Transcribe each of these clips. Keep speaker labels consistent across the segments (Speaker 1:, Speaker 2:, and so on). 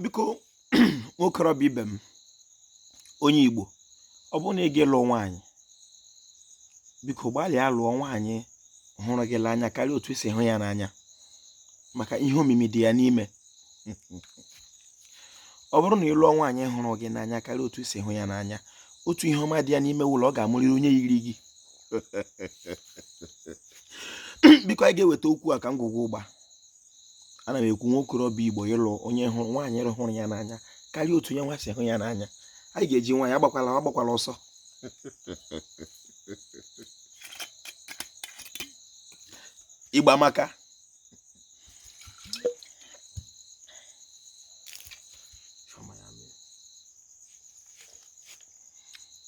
Speaker 1: biko nwokorobịa ibe m onye Igbo ọ bụrụ na ị ga-alụ nwaanyị biko gbalịa lụọ nwaanyị hụrụ gị n'anya karịa otu i si hụ ya n'anya maka ihe omimi dị ya n'ime ọ bụrụ na ị lụọ nwaanyị hụrụ gị n'anya karịa otu i si hụ ya n'anya otu ihe ọma dị ya n'ime wụ la ọ ga-amụrịrị onye yiri gị biko anyị ga-eweta okwu a ka ngwugwu ụgba ana m ekwu nwa okorobịa igbo ịlụ onye hụrụ nwaanyị hụrụ ya n'anya karịa otu ya nwa si hụ ya n'anya anyị ga-eji nwaanyị agbakwala ọsọ ịgba maka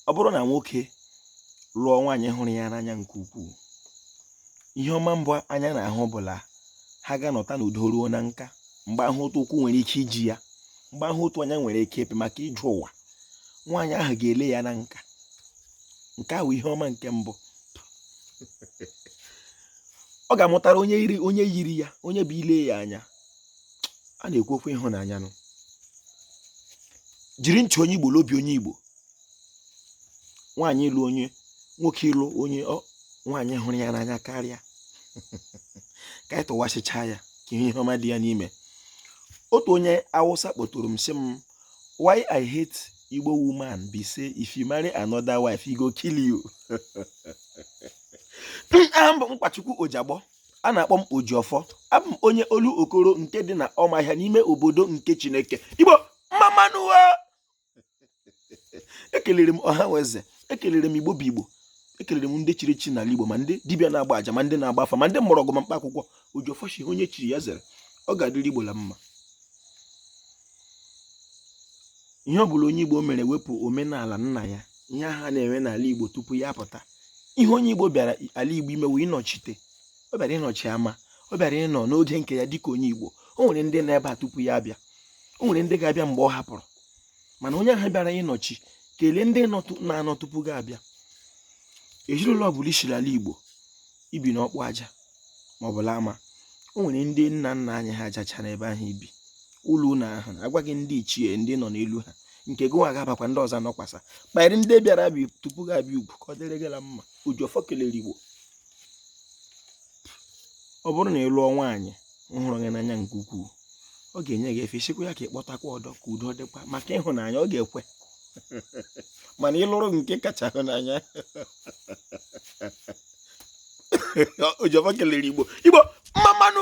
Speaker 1: ọ bụrụ na nwoke lụọ nwaanyị hụrụ ya n'anya nke ukwuu ihe ọma mbụ anya na-ahụ bụ la ha ga-anọta n'udo ruo na nka mgbe ahụ otu ụkwụ nwere ike iji ya mgbe ahụ otu anya nwere ike ịpị maka ije ụwa nwaanyị ahụ ga-ele ya na nka nke a wụ ihe ọma nke mbụ ọ ga-amụtara onye yiri ya onye bụ ile ya anya a na-ekwu okwu ịhụnanya nụ jiri ntị onye igbo la obi onye igbo nwaanyị ịlụ onye nwoke ịlụ onye nwaanyị hụrụ ya n'anya karịa ka anyị tụwasịcha ya ka ihe ọma dị ya n'ime otu onye awụsa kpọtụrụ m sị m why i hate igbo woman be say if you marry another wife he go kill you aha m bụ nkwachukwu ojagbọ a na-akpọ m ojiọfọ abụ m onye olokoro nke dị na ọmahịa n'ime obodo nke chineke igbo mma mma nụ ekelere m ọha na eze ekelere m igbo bụ igbo ekelere m ndị chiri echi n'ala igbo ma ndị dibịa na-agba aja ma ndị na-agba afa ma ndị mgbọrọgwụ ma mkpa akwụkwọ ojiọfọ shị onye chiri ya zere ọ ga-adịrị igbo la mma ihe ọ bụla onye igbo mere wepụ omenala nna ya ihe ha na-eme n'ala igbo tupu ya apụta ihe onye igbo bịara ala igbo ime wụ ịnọchite ọ bịara ịnọchi ama ọ bịara ịnọ n'oge nke ya dịka onye igbo o nwere ndị nọ ebe a tupu ya abịa o nwere ndị ga-abịa mgbe ọ hapụrụ mana onye ahụ bịara ịnọchi kelee ndị na-anọ tupu gị abịa ezinụlọ ọbụla i shi l'ala igbo i bi n'ọkpụ aja maọbụ l'ama o nwere ndị nna nna anyị ha ajacha n'ebe ahụ i bi ụlọ ụlọ ahụ agwa gị ndị ichie ndị ị nọ n'elu ha nke gị nwa ga-abakwa ndị ọzọ anọkwasa kpanyere ndị bịara bi tupu gị abịa ugwu ka ọ dịrị gị la mma ojiọfọ kelere igbo ọ bụrụ na ị lụọ nwaanyị hụrụ gị n'anya nke ukwuu ọ ga-enye gị efe ị sịkwa ya ka ị kpọtakwa ọdọ ka udo dịkwa maka ịhụnanya ọ ga-ekwe mana ị lụrụ nke ị kacha hụ n'anya ojiọfọ kelere igbo igbo mma mma nụ